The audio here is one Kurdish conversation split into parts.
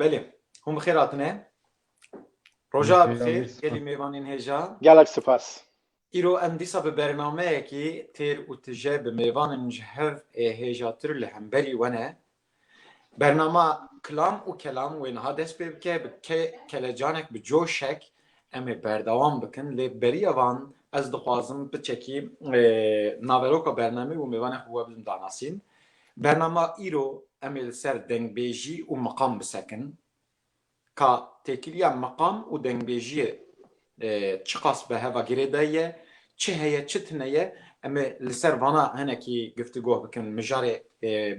Belê, hûn bi xêr hatine. Roja bi xêr, gelî mêvanên hêja. Gelek sipas. Îro em dîsa bi bernameyekî têr û tije bi mêvanên ji hev ê hêjatir li hemberî we ne. Bernama Kilam û Kelam wê niha dest pê bike bi kelecanek bi coşek em ê berdewam bikin lê beriya van ez dixwazim piçekî naveroka bernamê û mêvanê xwe we bidim danasîn. Bernama îro em ê li ser dengbêjî û miqam bisekin. Ka têkiliya meqam û dengbêjiyê çiqas bi heva girê de ye, çi heye çi tine ye, em ê li ser vana hinekî giftigoh bikin, mijarê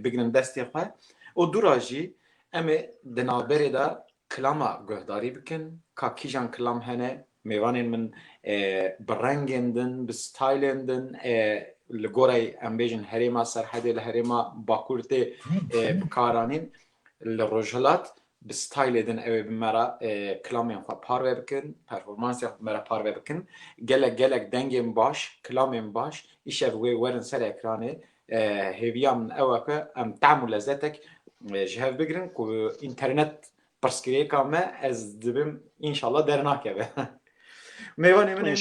bigrin destê xwe û dû ra jî em ê di navberê de kilama guhdarî bikin, ka kîjan kilam hene, mêvanên min bi rengên din, bi stylên din li goreyê em bêjin herêma Serhedê li herêma Bakur tê bikaranîn, Li Rojhilat bi stylê din ew ê bi me re kilamên xwe parve bikin, performansên xwe bi me re parve bikin. Gelek gelek dengên baş, kilamên baş îşev wê werin ser ekranê. Hêviya min ew e ku em tehm û lezetek ji hev bigirin ku înternet pirsgirêka me ez dibim înşallah dernakeve. Mêvanê min ên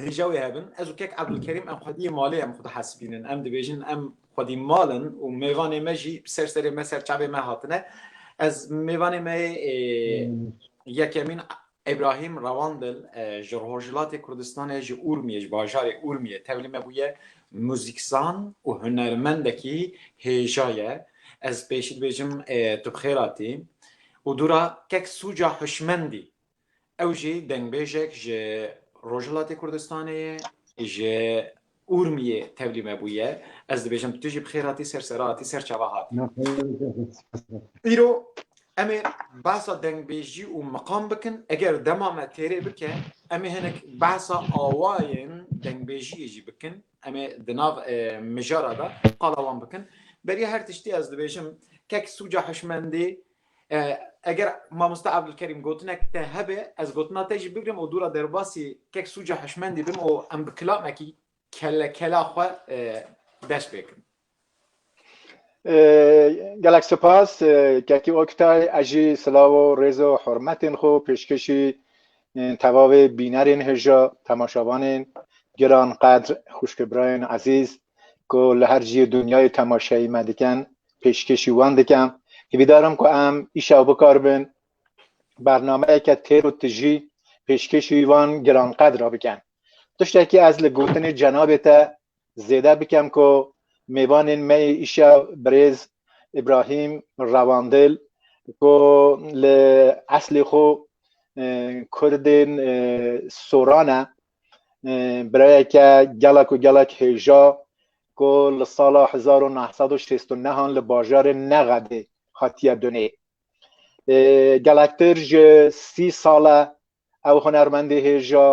Hêja wê hebin ez û kek Ebdulkerîm em xwediyê malê em xwe dihesibînin. Em dibêjin em xwedî mal in û mêvanê me jî bi ser serê me ser çavê me hatine. Ez mêvanê me yê yekemîn Îbrahîm Rewandil ji Rojhilatê Kurdistanê ji Urmiyê ji bajarê Urmiyê tevlî me bûye. Muzîkzan û hunermendekî hêja ye. Ez pêşî dibêjim tu bi xêr hatî û dûra kek sûca hişmendî Ew jî dengbêjek ji Rojhilatê Kurdistanê ye, ji Urmiyê tevlî me bûye. Ez dibêjim tu jî bi xêr hatî ser sera hatî ser çava hatî. Îro em ê behsa dengbêjî û miqam bikin. Eger dema me têrê bike em ê hinek behsa awayên dengbêjiyê jî bikin. Em ê di nav mijara de qala wan bikin. Beriya her tiştî ez dibêjim kek sûca hişmendî eger mamoste Evdulkerîm gotinek te hebe ez gotina te jî bigrim û dûra derbasî kek sûca hişmendî bim û em bi kilamekî kelle kela xwe dest pê kirin. Gelek spas Kekî Oktay ez jî silav û rêz û hurmetên xwe pêşkêşî tevavê bînerên hêja temaşavanên giran qedr xwişkê birayên ezîz ku li her ciyê dinyayê temaşeyê me dikin pêşkêşî wan dikim. Hîvîdar im ku em îşev bikaribin bernameyeke têr û tijî pêşkêşî wan giranqedra bikin. Tiştekî ez li gotinê cenabê te Zêde bikem ku mêvanên me yê îşev birêz Îbrahîm Rewandil ku li eslê xwe Kurdên Soran e, birayeke gelek û gelek hêja ku li sala hezar û neh sed û şêst û nehan li bajarê Nexedê hatiye dunê. Gelektir ji sî sal e ew hunermendê hêja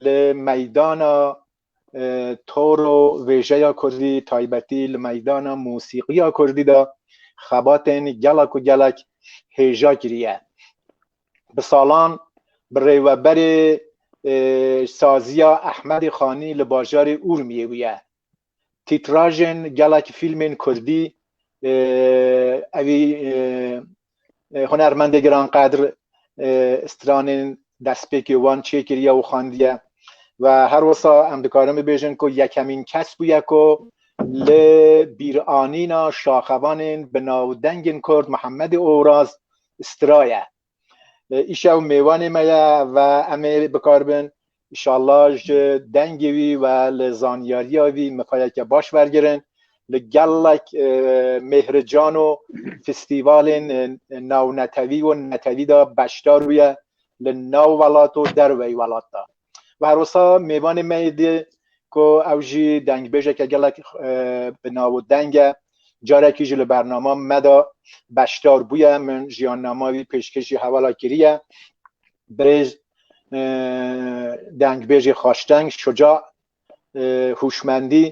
li meydana Toro vêjeya Kurdî taybetî li meydana mûsîqiya Kurdî de xebatên gelek û gelek hêja kiriye. Bi salan bi rêweberê saziya Ehmedê Xanî li bajarê Urmiyê bûye. Tîtrajên gelek fîlmên Kurdî evî Hunermendê giranqedr stranên destpêkê wan çêkiriye û xandiye ve her wisa em dikarin bibêjin ku yekemîn kes bûye ku li bîranîna şaxevanên bi navdengên Kurd Mihemedê Oraz straye. Îşew mêwanê me ye ve em ê bikaribin Înşallah ji dengê wî ve li zanyariya wî mifayeke baş wergirin li gelek mêhrican û fîstîvalên nawnetewî û netewî de beşdar bûye li nav welat û derveyî welat de. Bi her wisa mêvanê me yê dî ku ew jî dengbêjeke gelek bi nav û deng e carekî jî li bernama me de beşdar bûye min jiyannama wî pêşkêşî hevala kiriye. Birêz dengbêjê xaşteng, şuca, hûşmendî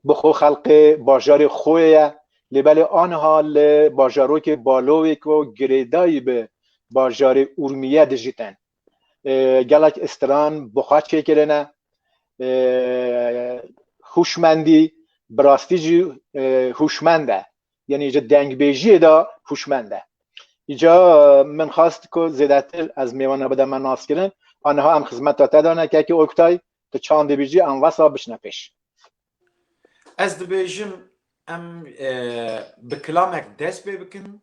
bi xwe xelqê bajarê xwe ye lê belê aniha li bajarokê Balowê ku girêdayî bi bajarê Urmîye dijîtin. Gelek istiran bi xwe çêkirine. Hûşmendî bi rastî jî hûşmend e. yani ji dengbêjiyê de hûşmend e. Îca min xast ku zêdetir ez mêwana bide me naskirin a niha em xizmeta te dane kekê Oktay tu çand dibîjî em wesa biçine pêş. Ez dibêjim em bi kilamek dest pê bikin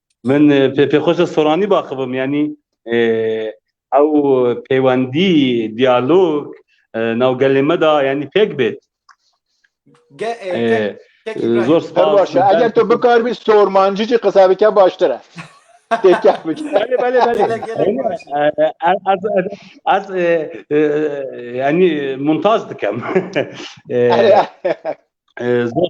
Min pê pêxweşe Soranî baxibim yanî ew pêwendî diyalog nav gelê me da yanî pêk bêt. Zor spas. Eger tu bikaribî sormancî jî qisa bike baştir e. Têkek bike. Belê belê belê. Ez yanî muntaz dikem. Zor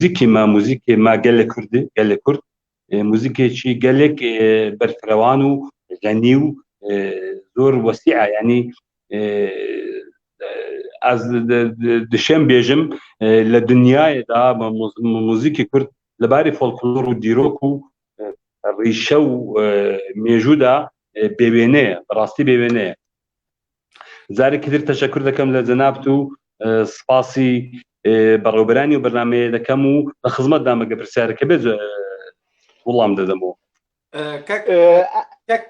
Muzîkê me, muzîkê me gelê Kurd e, gelê Kurd. Muzîkê çî gelek berfrewan û xenî û zor wesî e. Yanî ez dişêm bêjim li dinyayê de muzîkê Kurd li barê folklor û dîrok û rîşe û mêjû de bêwêne ye. Bi rastî bêwêne ye. Zarekî dir teşekur dikim li cenab tu spasî berewberanî û bernameyê dikim û li xizmet de me pirsyareke bê wilam didim û Kek kek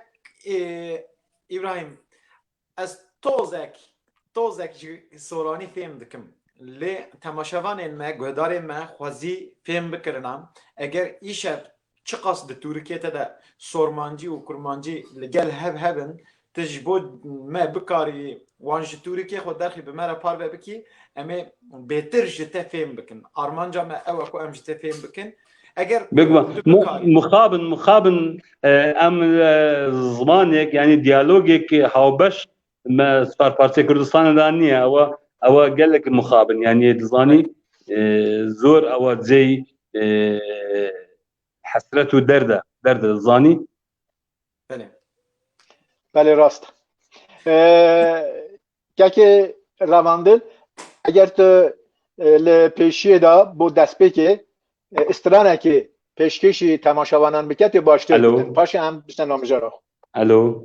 Îbrahîm ez tozek tozek ji soranî fêm dikim lê temaşevanên me guhdarên me xwezî fêm bikirina eger îşev Çiqas di Turkiye te de sormancî û kurmancî li gel hev hev in, tu ji bo me bikarî wan ji Turkiye xwe derxî bi me re parve bikî, em ê bêtir ji te fêm bikin. Armanca me ew e ku em ji te fêm bikin. Eger tu bikarî. Mixabin, mixabin em zimanêk yanî diyalogêk hawbeş Me Spar Partiya Kurdistanê de niye ewa ewa gelek mixabin yani dizanî zor ewa cey hesret û derde derde zanî Belê Belê rast Kekê revandin eger tu li pêşiyê de bo destpêkê stranekê pêşkêşî temaşevanan bike tê baştir paşê em bişte namijara. Elo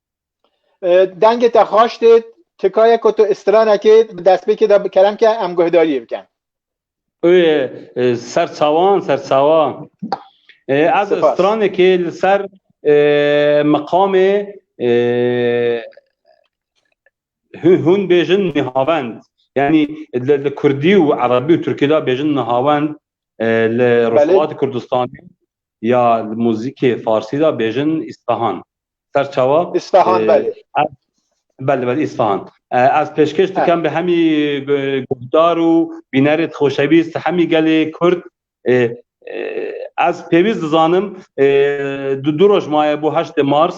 دنگê te xaş dêt tikaye ku tu îstiranekê bi destpêkê de kerem ke em guhdariyê bikin. Oy ser çawan ser çawa ez îstiranekê li ser miqamê hûn bêjin nihavend yanî li kurdî û erebî û turkî de bêjin nihavend li Rojhilatê Kurdistanê Ya li muzîkê farsî de bêjin Îsfehan. Ser çawa? Îsfehan belê. Belê belê Îsfehan. Ez pêşkêş dikim bi hemî guhdar û bînerê di xoşewîst hemî gelê Kurd ez pêwîst dizanim di du roj maye bo heştê Mars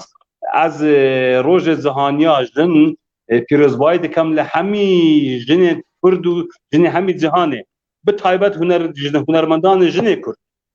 ez rojê zihaniya jin pîrozbayî dikim li hemî jinên Kurd û jinê hemî cîhanê bi taybet hunermendanê jinê Kurd.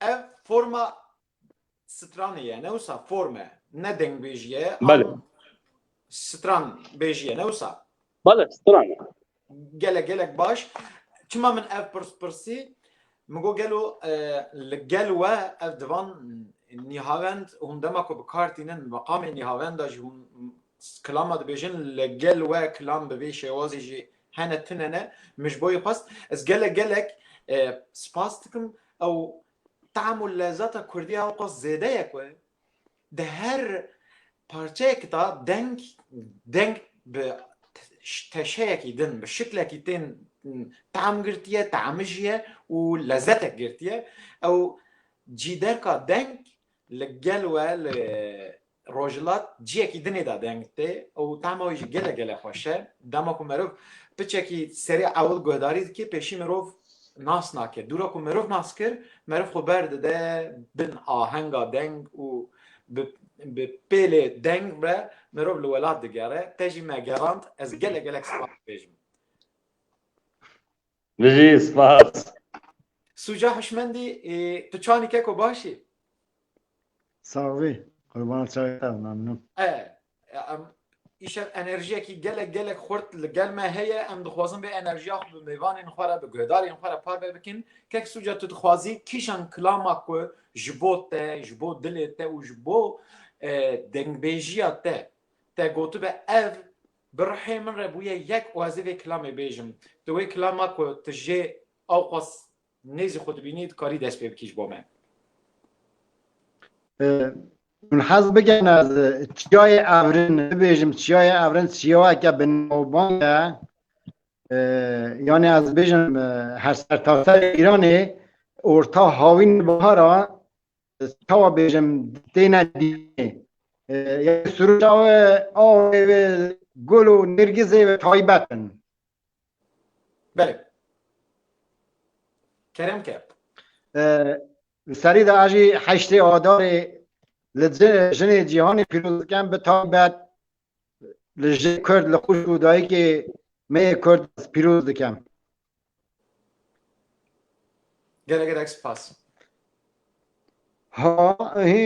Ev forma stranê ye, ne wisa form e, ne dengbêjî ye. Bale. Stran bêjî ye, ne wisa. Bale, stran e. Gelek gelek baş. Çima min ev pirs pirsî? Min got gelo e, li gel we ev divan nîhavend hûn dema ku bi kar tînin meqamê nîhavenda jî hûn Klama dibêjin li gel we klam bi vê şêwazê jî hene tune ne. Min ji bo yê xwest. Ez gelek gelek spas dikim. Ew tam û lezata kurdî ya ewqas zêde ye ku di her parçeyek de deng deng bi teşeyekî din bi şiklekî tên tam girtiye, tamijiye û lezetek girtiye. Ew cî derka deng li gel we li Rojhilat ciyekî dinê de deng tê û tehma wî jî gelek gelek xweş e. Dema ku merov piçekî serê ewil guhdarî dike pêşî mirov nas nake. Dûra ku mirov nas kir, merov xwe ber dide bin ahenga deng û bi bi pêlê deng ve mirov li welat digere. Te jî me gerand, ez gelek gelek spas dibêjim. Bijî, spas. Sûca hişmendî, tu çanî keko baş î. Sax bî, qurbana çayê te be, memnûn. E, em îşev enerjiyekî gelek gelek xurt li gel me heye, em dixwazin vê enerjiya xwe bi mêvanên xwe re, bi guhdarên xwe re parve bikin. Kek Sûca tu dixwazî kîjan kilama ku ji bo te, ji bo dilê te û ji bo dengbêjiya te te gotibe ev Bi rihê min re bûye yek û ez ê vê kilamê bêjim. Di wê kilama ku tu jê awqas nêzî xwe dibînî dikarî dest pê bikî ji bo me. Hûn hez bikin ez Çiyayê Evrin bibêjim. Çiyayê Evrin çiyayeke binavbang e. Yanî ez bêjim her sertaserê Îranê orta hawîn bihara çawa bêjim têne dînê ya suruca we awê ve gul û nêrgizê ve taybet in. Belê. Kerem ke. Li serî de ajî heştê adarê li jinê cîhanê pîroz dikin bi taybet Li jê Kurd li xwişk û dayikê me yê Kurd ez pîroz dikim. Gelek gelek spas. Ha he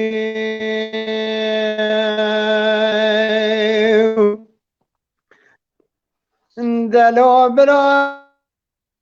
Delo bira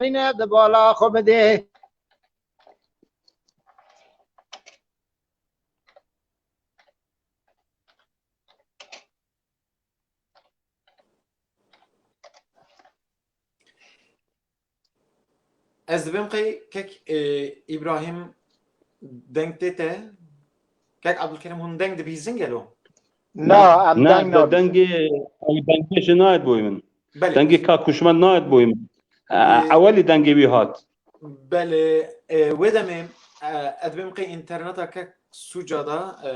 Zeynep di bala xwe bidê. Ez dibim qey kek e, İbrahim deng tê te. Kek Abdülkerim hûn deng dibîzin gelo. Na, em Na, deng nabîzin. dengê ew dengê jî nayet boyê min. Belê. Dengê ka kuşmend nayet boyê min. Ewelî dengê wî hat. Belê, e, wê demê e, ez dibêm qey înterneta ke sûca da e,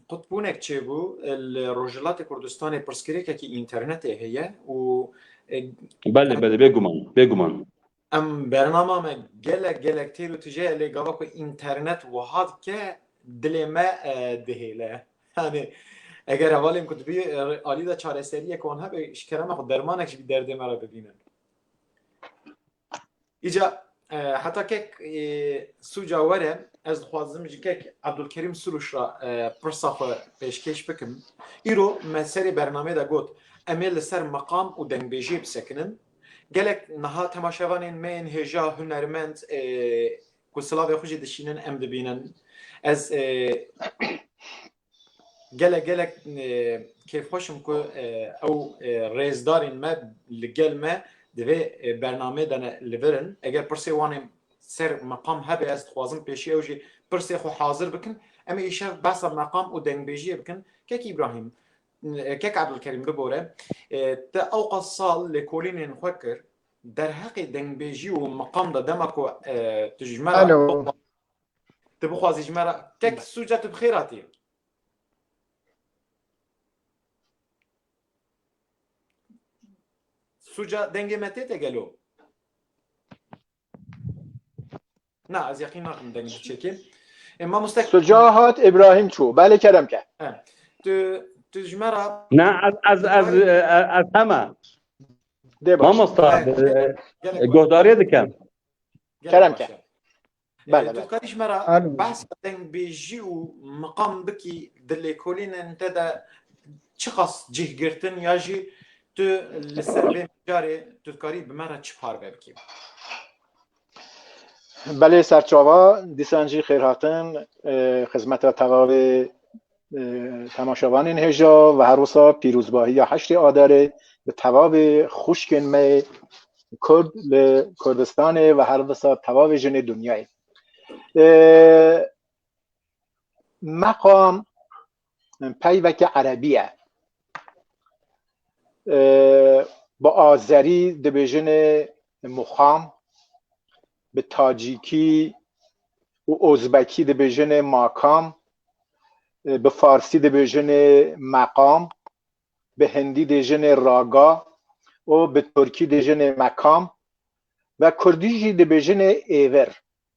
qutbûnek çêbû e, li Rojhilatê Kurdistanê pirsgirêkekî înternetê heye û e, Belê, belê, bêguman, bêguman. Em bernama me gelek gelek têr û tije ye lê gava ku înternet wiha dike dilê me dihêle. Yanî eger hevalên ku dibî alî de çareseriyek wan hebe ji kerema xwe dermanek jî derdê me re bibîne. Îca heta kek sûca were ez dixwazim ji kek Abdulkerîm Sûrûş re pirsa xwe pêşkêş bikim. Îro me serê bernamê de got em ê li ser meqam û dengbêjiyê bisekinin Gelek niha temaşevanên me yên hêja hunermend ku silavê xwe jî dişînin em dibînin. Ez gelek gelek kêfxweş im ku ew rêzdarên me li gel me di vê bernameyê de ne li vir in. Eger pirsê wan ê ser meqam hebe ez dixwazim pêşî ew jî pirsê xwe hazir bikin. Em ê îşev behsa meqam û dengbêjiyê bikin. Kek Îbrahîm Kek Ebdulkerîm bibore, te ewqas sal lêkolînên xwe kir, derheqê dengbêjî û miqam de dema ku tu ji me re tu bixwazî ji me re kek sûca tu bi xêr hatî. Sûca dengê me tête gelo? Na ez yaqîn nakim dengê tu çêkê. Ê mamoste Suca hat Îbrahîm çû. Belê kerem ke. tu tu ji me re Na ez ez ez ez hema. Dê baş. Mamosta gelek gohdariye dikem. gelek Kerem baş ke. ya. Ê, Bele, Tu bele. karî ji me re Alo. behsa dengbêjî û miqam bikî di lêkolînên te de çiqas cih girtin ya jî Tu li ser vê mijarê tu dikarî bi me re çi parve bikî? Belê serçava, dîsan jî xêrhatin xizmeta tevavê temaşevanên hêja ve her wisa pîrozbahiya heştê Adarê bi tevavê xwişkên me Kurd li Kurdistanê ve her wisa tevavê jinê dinyayê. Meqam peyveke erebî ye. Bi azerî dibêjin muxam, bi tacîkî û ozbekî dibêjin makam, bi farsî dibêjin meqam, bi hindî dêjin raga û bi turkî dêjin mekam ve kurdî jî dibêjin êvir.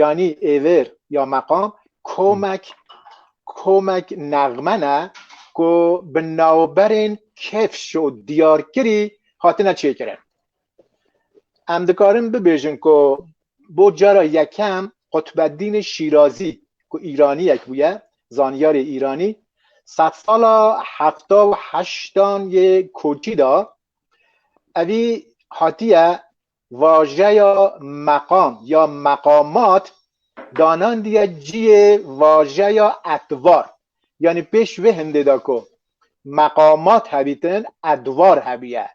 Yanî êvêr ya meqam komek komek nexme ne ku bi navberên kevş û diyarkirî hatine çêkirin. Em dikarin bibêjin ku bo cara yekem Qutbeddînê Şîrazî ku Îraniyek bûye, zanyarê Îranî sedsala hefta û heştan yê koçî de evî hatiye Vajeya meqam ya meqamat danandiye ciyê vajeya edvar. Yanî pêş vê hindê de ku meqamat hebîtin edvar hebûye.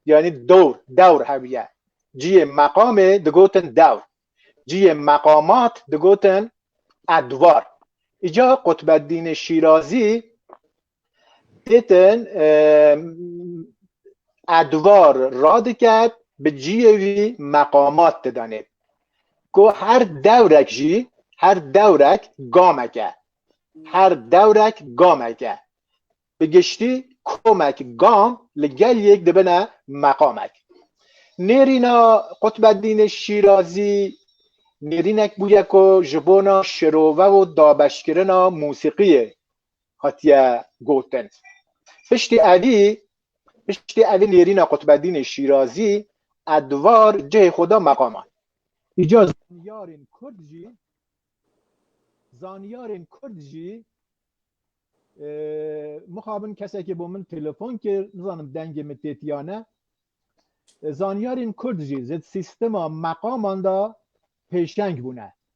Yanî dor, dewr hebûye. Ciyê meqamê digotin dewr. Ciyê meqamat digotin edvar. Îcar Qutbeddînê Şîrazî Pêtin Edwar radiket bi ciyê wî meqamat didanê ku her dewrek jî her dewrek gamek e her dewrek gamek e bi giştî komek gam li gel yek dibine meqamek. Nêrîna Qutbeddînê Şîrazî nêrînek bûye ku ji bona şirove û dabeşkirina mûsîqiyê hatiye gotin. Piştî evî piştî evî nêrîna Qutbedînê Şîrazî a di var cihê xwe da meqaman. Îca zanyarên kurd jî zanyarên kurd jî mixabin kesekê bo min telefon kir nizanim dengê min tê tiya ne zanyarên kurd jî zêd sîstema meqaman da pêşeng bûne.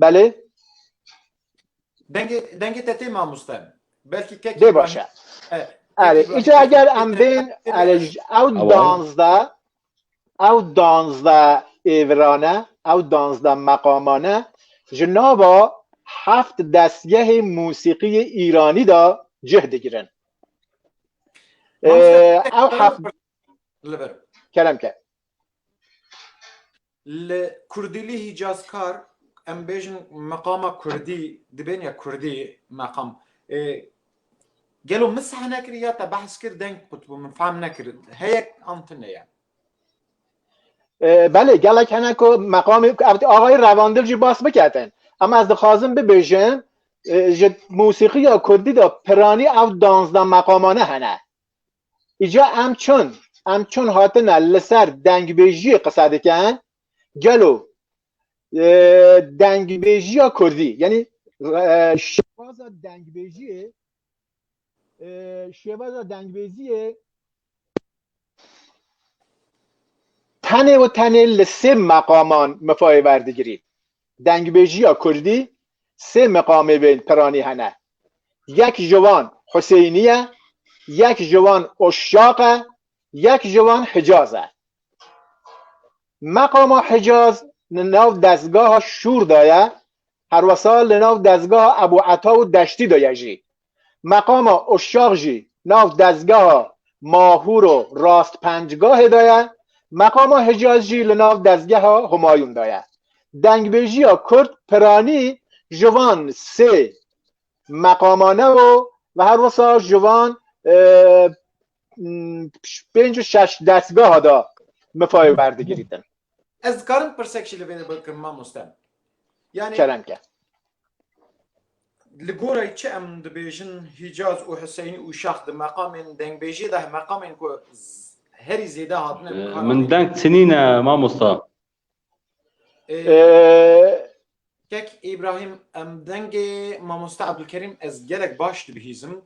Belê. Dengê, dengê te tê mamoste. Belkî kek Dê baş e. Erê, îca eger em bên erê ew danzda ew danzda êvirane, ew danzda meqamane ji nava heft destgehê musîqiyê Îranî da cih digirin. Ew heft kerem ke. Li kurdîlî hîcazkar em bêjin meqama kurdî dibên ya kurdî meqam. Gelo min seh nekir ya te behs kir deng qut bû min fehm nekir. Heyek an tu ne ye. Belê gelek hene ku meqamê axayê revandil jî bas biketin. Em ez dixwazim bibêjim ji musîqiya kurdî de piranî ew danzda meqamane hene. Îca em çund em çund hatine li ser dengbêjiyê qise dikin, gelo dengbêjiya Kurdî yanî şêwaza dengbêjiyê şêwaza dengbêjiyê tenê û tenê li sê meqaman mifayê werdigirî. Dengbêjiya kurdî sê meqamê bên piranî hene. Yek ji wan Huseynî ye, yek ji wan Uşşaq e, yek ji wan Hicaz e. Meqama Hicaz li nav dezgaha Şûr de ye, herwesa li nav dezgaha Ebû Eta û Deştî de ye jî. Meqama Uşşax jî nav dezgeha Mahûr û Rastpencgahê de ye, meqama Hicaz jî li nav dezgeha Humayûn de ye. Dengbêjiya kurd piranî ji van sê meqamane bo ve her wisa ji van pênc û şeş destgeha de mifayê werdigirîtin. Ez dikarim pirsek jî li vê de bikim mamoste. Yani kerem ke. Li gorayê çi em dibêjin Hîcaz û Hiseynî û Şax di meqamên dengbêjê de meqamên ku herî zêde hatine min deng çinîne mamosta. Kek Îbrahîm em dengê mamoste Ebdulkerîm ez gelek baş dibihîzim.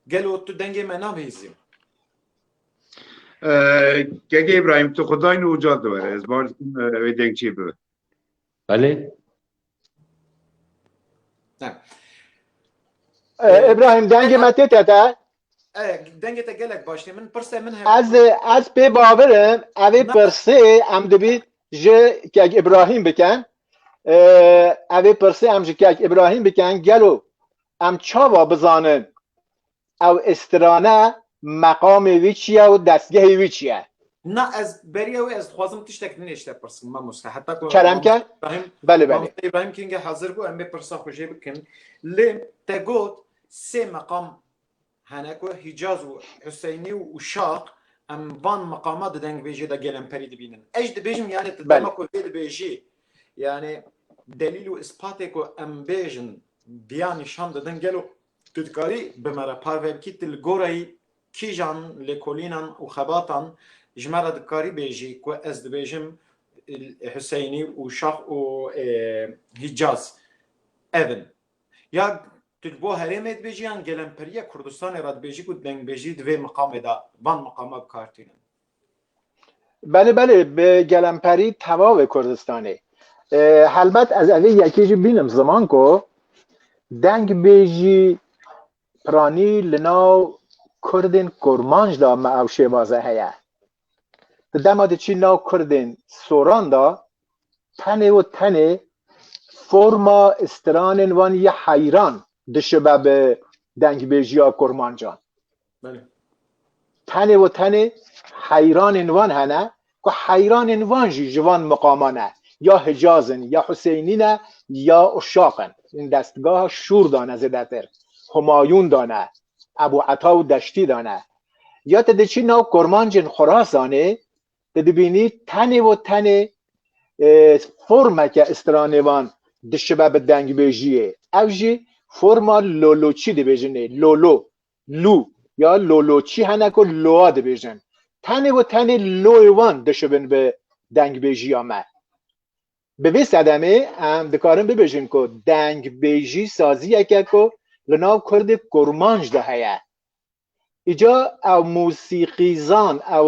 Gelo tu dengê me nabihîzî? Kek Îbrahîm tu xudayno uca diwere ez baş dikim wê dengçî bibe. Belê. Ebrahim dengê me tê te te. Dengê te gelek baş tê min pirse min hebe. Ez ez pê bavirim evê pirsê em dibî ji kek Ebrahim biken. Evê pirsê em ji kek Ebrahim biken gelo em çawa bizanin Ew strane meqamê wî çi ye û destgehê wî çi ye? Na ez beriya wê ez dixwazim tiştek din ê ji te pirsim mamoste heta ku Kerem ke? Mamoste Îbrahîm Belê belê. Mamoste Îbrahîm Kingê hezir bû em vê pirsa xwe jê bikin lê te got sê meqam hene ku Hîcaz û Huseynî û Şaq em van meqama di dengvêjê de gelemperî dibînin. Ez jî dibêjim yanê tu Belê. dema ku vê dibêjî yanê delîl û îspatê ku em bêjin diya nîşan didin gelo Tu dikarî bi me re parve bikî tu li goreyî kîjan lêkolînan û xebatan ji me re dikarî bêjî ku ez dibêjim Huseynî û Şax û Hîcaz ev in. Ya tu ji bo herêmê dibêjî yan gelemperîya Kurdistanê re dibêjî ku dengbêjî di vê miqamê de van miqama bi kar tînin. Belê belê bi gelemperî tevavê Kurdistanê. Helbet ez evê yekê jî bînim ziman ku dengbêjî piranî li nav Kurdên kurmanc da me ew şêvaze heye. Di dema de çî nav Kurdên soran da tenê û tenê forma stranên wan ya heyran dişibe bi dengbêjiya kurmancan. Tenê û tenê heyranên wan hene ku heyranên wan jî ji van miqaman e. Ya Hicaz in, ya Huseynî ne, ya Uşaq in. Hûn destgeha Şûr de ne zêdetir, Humayûn de ne, Ebû Eta û Deştî de ne. Ya tu diçî nav kurmancên Xurasanê, tu dibînî tenê û tenê formeke stranêvan dişibe bi dengbêjiyê. Ev jî forma loloçî dibêjinê, lolo. Lû ya loloçî hene ku loa dibêjin. Tenê û tenê loyê wan dişibin bi dengbêjiya me. Bi vê sedemê em dikarin bibêjin ku dengbêjî saziyeke ku li nav kurdê kurmanc de heye. Îca ew mûsîqîzan, ew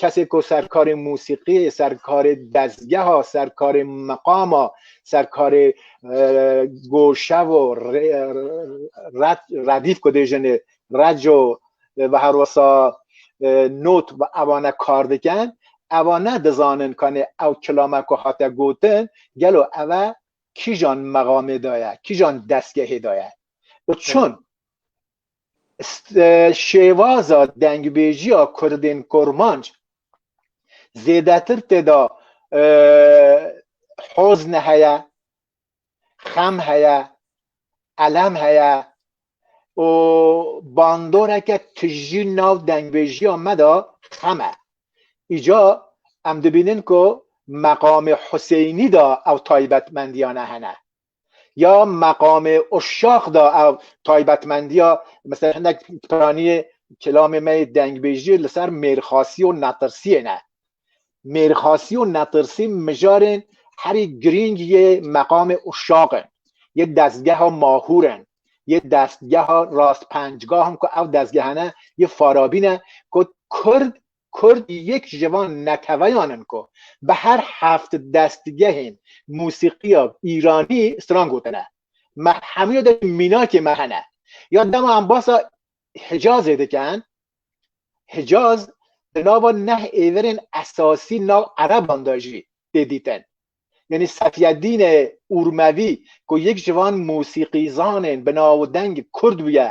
Kesê ku serkarê musîqiyê, serkarê dezgeha, serkarê meqama, serkarê goşevo, redîf ku dê jinê, reco ve her wisa not ve evane kar diken, eva ne dizanin kanê ew kilame ku hate gotin gelo eve kîjan meqamê de ye, kîjan dezgehê de ye û çun? Şêwaza dengbêjiya Kurdên Kurmanc zêdetir tê de hozn heye, xem heye, elem heye û bandoreke tijî nav dengbêjiya me de xem e. Îca em dibînin ku meqamê Huseynî de ew taybetmendiyane hene. ya meqamê uşax da ev taybetmendiya mesela hinek piraniyê kelamê me yê dengbêjiyê li ser mêrxasî û netirsiyê ne. Mêrxasî û netirsî mijarên herî girîng yê meqamê uşax in, yê destgeha Mahûr in, yê destgeha Rastpençgah in ku ev destgehane yê Farabî ne ku Kurd Kurd yek ji van neteweyan in ku bi her heft destgehên mûsîqiya îranî stran gotine. Me hemûya de jî mînakê me hene. Ya dema em basa Hicazê dikin, Hicaz di nava neh êvirên esasî nav ereban de jî tê dîtin. Yanî Sefyedîne Urmevî ku yek ji van mûsîqîzanên bi navdeng kurd bûye,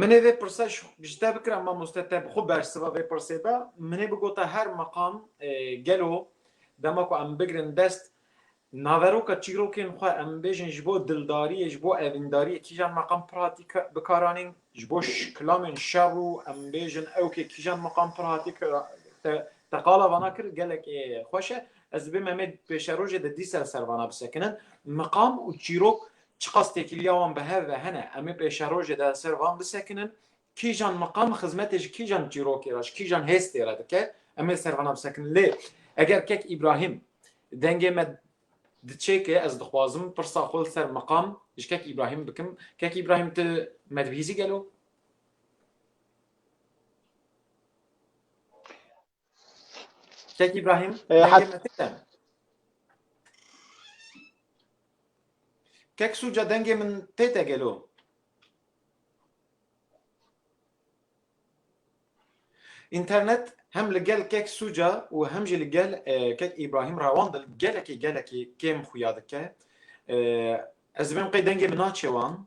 Min ê vê pirsa ji te bikira mamoste te bi xwe bersiva vê pirsê be. Min ê bigota her meqam gelo dema ku em bigirin dest naveroka çîrokên xwe em bêjin ji bo dildariyê ji bo evîndariyê kîjan meqam pir hatî bikaranîn ji bo kilamên şer û em bêjin ew kê kîjan meqam pir hatî te te qala vana kir gelek ê xweş e. Ez dibê me mê pêşerojê de dîsa li ser vana bisekinin. Meqam û çîrok Çiqas têkiliya wan bi hev ve hene, em ê pêşerojê de ser van bisekinin, kîjan miqam xizmetê ji kîjan çîrokê re, ji kîjan hêstê re dike, em ê ser vana bisekinin. Lê eger kek Îbrahîm dengê me diçêke, ez dixwazim pirsa xwe li ser miqam ji kek Îbrahîm bikim, kek Îbrahîm tu me dibihîzî gelo? Şek İbrahim. Ee, hat- dengê me tik e. Kek Suca dengê min tê te gelo. İnternet hem li gel Kek Suca û hem jî li gel e, Kek İbrahim rewan dil gelekî gelekî kêm xuya dike. E, Ez dibim qey dengê min naçe wan.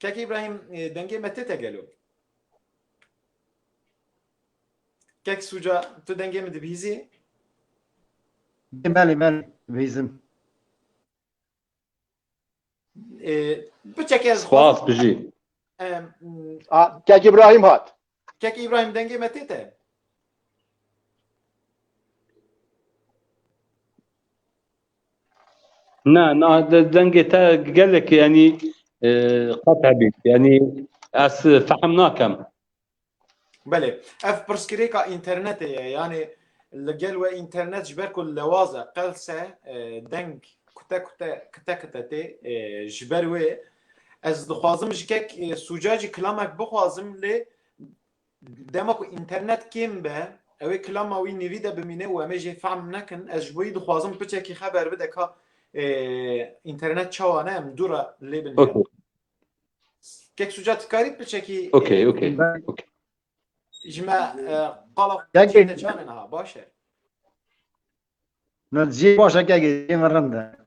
Kekê İbrahim e, dengê me tete gelo. Kek suca tu dengê min dibihîzî? Belê belê vêzim. E, Biçekez Spas bijî. Em, A, Kek İbrahim hat. Kek İbrahim dengê me tête. Na na dengê te gelek yani e, qet hebî. Yani ez fehm nakem. Belê. Ev pirsgirêka internetê ye. Yani li gel we internet ji ber ku lewaz e qelse e, deng kute kute kite kite tê e, ji ber wê Ez dixwazim ji kek sûcacî kilamek bixwazim lê dema ku înternet kêm be ew ê kilama wî nîvî de bimîne û em ê jê fehm nekin ez ji bo wî dixwazim piçekî xeber bide ka înternet çawa ne em dû re lê bin okay. kek sûca tikarî piçekî okay, okay. okay. ji me qala çanin ha baş e Nadzî baş e kegê rind e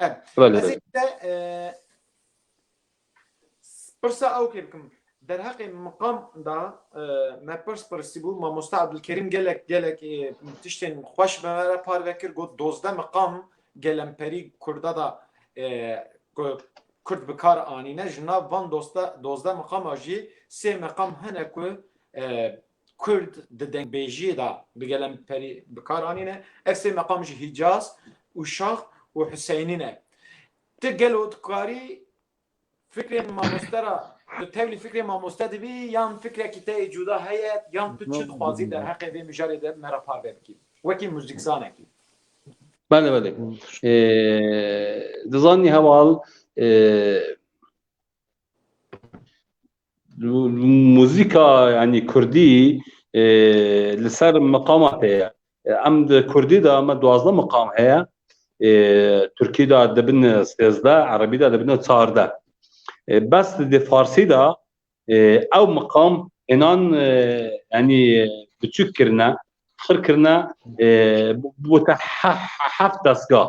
Ez ê te pirsa ew kê bikim. Derheqê miqam da me pirs pirsîbû mamosta Ebdulkerîm gelek gelek tiştên xweş bi me re parve kir got dozdeh miqam gelemperî kurda da kurd bi kar anîne ji nav van dozdeh miqama jî sê miqam hene ku Kurd di dengbêjiyê de bi gelemperî bi kar anîne. Ev sê meqam jî Hîcaz, Uşax û Huseynî ne. Ti gelo dikarî fikrê mamoste ra tu tevlî fikrê mamoste dibî yan fikrekî te yê cuda heye yan tu çi dixwazî derheqê vê mijarê de me re parve bikî wekî muzîkzanekî? Bele bele. Dizanî heval Muzîka yanî kurdî li ser miqama tê ye. Em di kurdî de me duwazdeh miqam heye. Tirkî de dibin sêzdeh, erebî de dibin çardeh. Bes di farsî de ew miqam înan yanî biçûk kirine, xir kirine bûte heft destgah.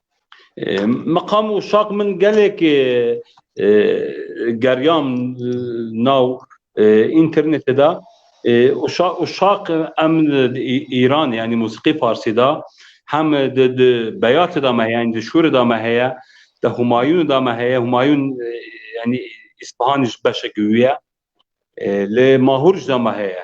Meqam û şaq min gelek geriyam nav internetê de û şaq em Îran yanî mûsîqî farsî de hem di beyatê de me heye di şûrê de me heye di Humayûnê de me heye Humayûn yanî Îspahanî ji beşekî wî ye lê Mahûr jî de me heye.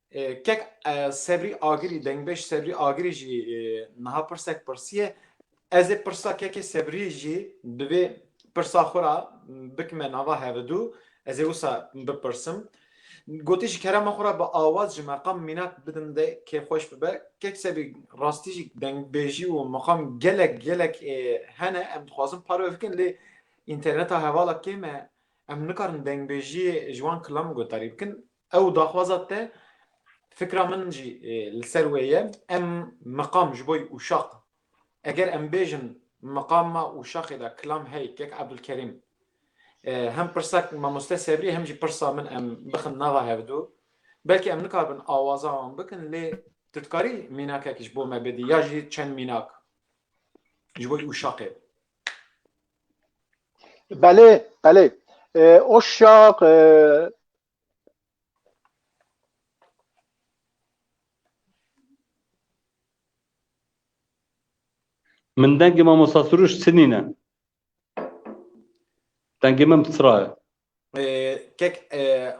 Kek Sebrî Agirî, Dengbêj Sebrî Agirî jî niha pirsek pirsiye. Ez ê pirsa Kekê Sebrî jî bi vê pirsa xwe re bikime nava hevidû. Ez ê wisa bipirsim. Gotî ji kerema xwe re bi awaz ji meqam mînak bidim de kê xweş bibe. Kek Sebrî rastî jî dengbêjî û meqam gelek gelek hene em dixwazin parve bikin lê înterneta hevala kêm e. Em nikarin dengbêjiyê ji wan kilam guhdarî bikin. Ew daxwaza te fikra min jî li ser wê ye. Em miqam ji boy ûşaq eger em bêjin miqama ûşaxê de kilam hey kek Ebdulkerîm hem pirsa mamoste Sebrî hem jî pirsa min em bixin nava hevdu belkî em nikarbin awaza wan bikin lê tu dikarî mînakekî ji bo me bidî ya jî çend mînak ji boy ûşaqê Belê belê ûşaq Min dengê mamosta Suruş sinîne. Dengê min psra ye. Kek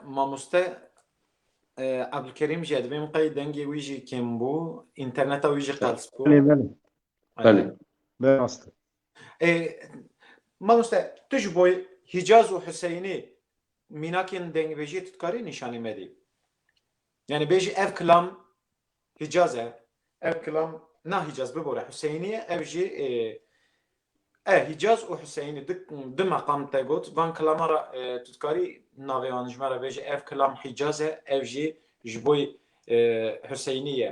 mamoste Abdulkerîm jî ye divê min qey dengê wî jî kêm bû, înterneta wî jî qels bû. Belê belê. Belê. Rast e. Ê mamoste tu ji bo Hîcaz û Huseyinî mînakên dengbêjiyê tu dikarî nîşanî medî? Yanî bêjî ev kilam Hîcaz e, ev kilam na Hîcaz bibore Huseyinî ye, ev jî e Hîcaz û Huseyinî di di meqam te got van kilaman re tu dikarî navê wan ji me re bêjî ev kilam Hîcaz e, ev jî ji bo Huseyinî ye.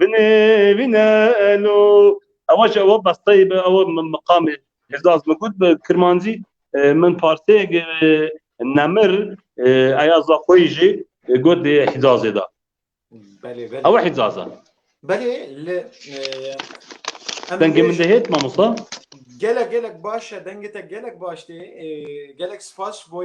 Binê vîne elo ewa jî ewa besteyê bi ewa min miqamê Hêzaz min got bi kirmancî min parsêyek nemir eya za xwe yî jî got dê Hîzazê de. Belê belê. Ewa Hîzaz e. Belê li Dengê min de hêt mamosta? Gelek gelek baş e dengê te gelek baş tê. Gelek spas ji bo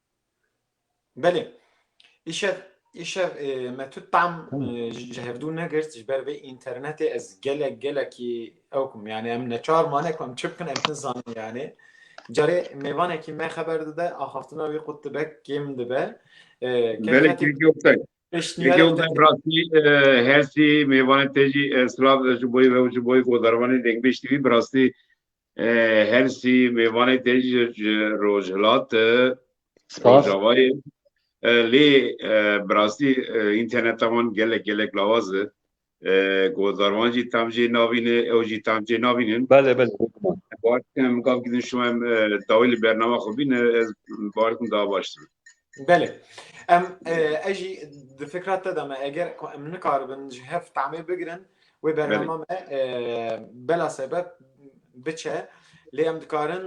Belê. Îşev îşev me tu tam ji hevdû negirt ji ber vê înternetê ez gelek gelekî ew kum yani em neçar mane ku em çi bikin em nizanin yani. Carê mêvanekî me xeber dide axaftina wî qut dibe kêm dibe. Rastî hersî mêvanê te jî silav ji boyê ve û ji boyê godarvanê dengbêj tîvî bi rastî Hersî mêvanê te jî ji Rojhilat e. Spas. Rojavayê. Lê bi rastî înterneta wan gelek gelek lawaz e. Godarwan jî tam jê navîne, ew jî tam jê navînin. Belê belê. Baş dikim gav gidin şima em dawî li bernama xwe bîne ez baş dikim daha baş dibe. Belê em ez jî di fikra te de me eger ku em nikaribin ji hev tamê bigirin wê bernama me bela sebep biçe lê em dikarin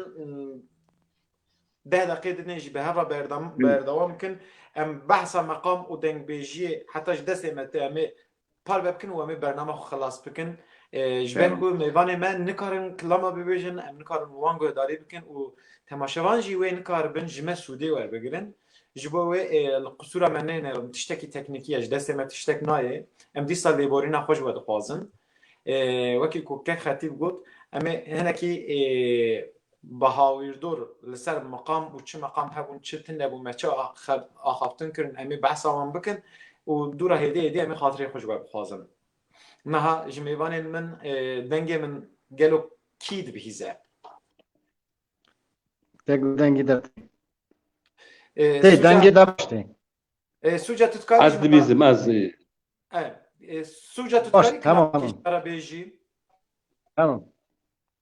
deh deqê dinê jî bi heva berdewam bikin em behsa meqam û dengbêjiyê heta ji destê me te em ê parve bikin û em ê bername xwe xilas bikin. Ji ber ku mêvanê me nikarin kilama bibêjin, em nikarin wan guhdarî bikin û temaşevan jî wê nikaribin ji me sûdê werbigirin. Ji bo wê li qisûra me nênêrin, tiştekî teknîkî ye, ji destê me tiştek nayê. Em dîsa lêborîna xwe ji we dixwazin. Wekî ku kek xetîb got, em ê hinekî Bahawîrdor li ser meqam û çi meqam hebûn çi tune bû me çi axaftin kirin em ê behsa wan bikin û dû re hêdî hêdî em ê xatirê xwe ji we bixwazin. Niha ji mêvanên min dengê min gelo kî dibihîze? Te ku dengê de tê. Tê dengê de baş tê. Sûca tu dikarî Ez dibîzim ez. Sûca tu dikarî kî jara bêjî? Tamam.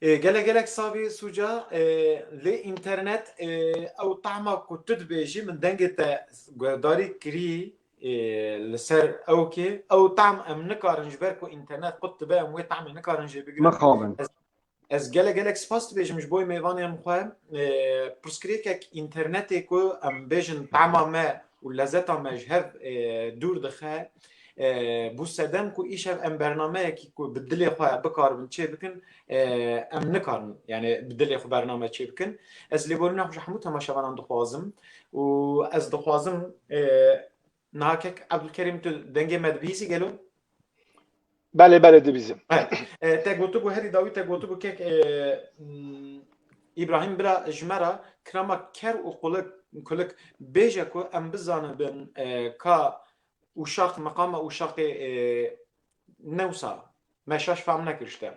Gelek gelek savê Sûca lê înternet ew tahma ku tu dibêjî min dengê te guhdarî kirî li ser ew kê ew tahm em nikarin ji ber ku înternet qut dibe em wê tahmê nikarin jê bigirin. Mixabin. Ez gelek gelek spas dibêjim ji boî mêvanên xwe pirsgirêkek înternetê ku em bêjin tahma me û lezeta me ji hev dûr dixe Bû sedem ku îşev em bernameyekî ku bi dilê xwe bikaribin çê bikin em nikarin yani bi dilê xwe bername çê bikin ez lê gorîna xwe ji hemû temaşevanan dixwazim û ez dixwazim nahakek Ebdulkerîm tu dengê me dibihîzî gelo Belê belê dibîzim te gotibû herî dawî te gotibû kek İbrahim bira ji me re kirama ker û qulik kulik bêje ku em bizanin bin ka Uşaq, meqama Uşaqê new sal me şaş fam nekir ji te.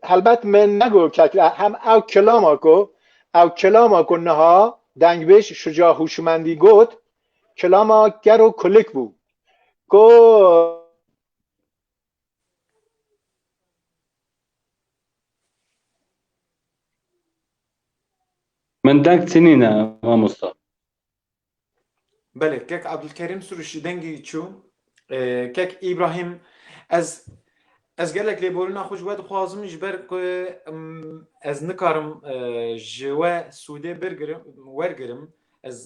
Helbet me negot ke hem ew kilama ku ew kilama ku niha dengbêj Şuca Hûşmendî got kilama ker û kulik bû ku Min deng çinîne mamosta. Belê kek Abdulkerîm Sûrişî dengê wî çû. Kek Îbrahîm ez Ez gelek lêborîna xwe ji we dixwazim ji ber ku ez nikarim ji we sûdê wergirim ez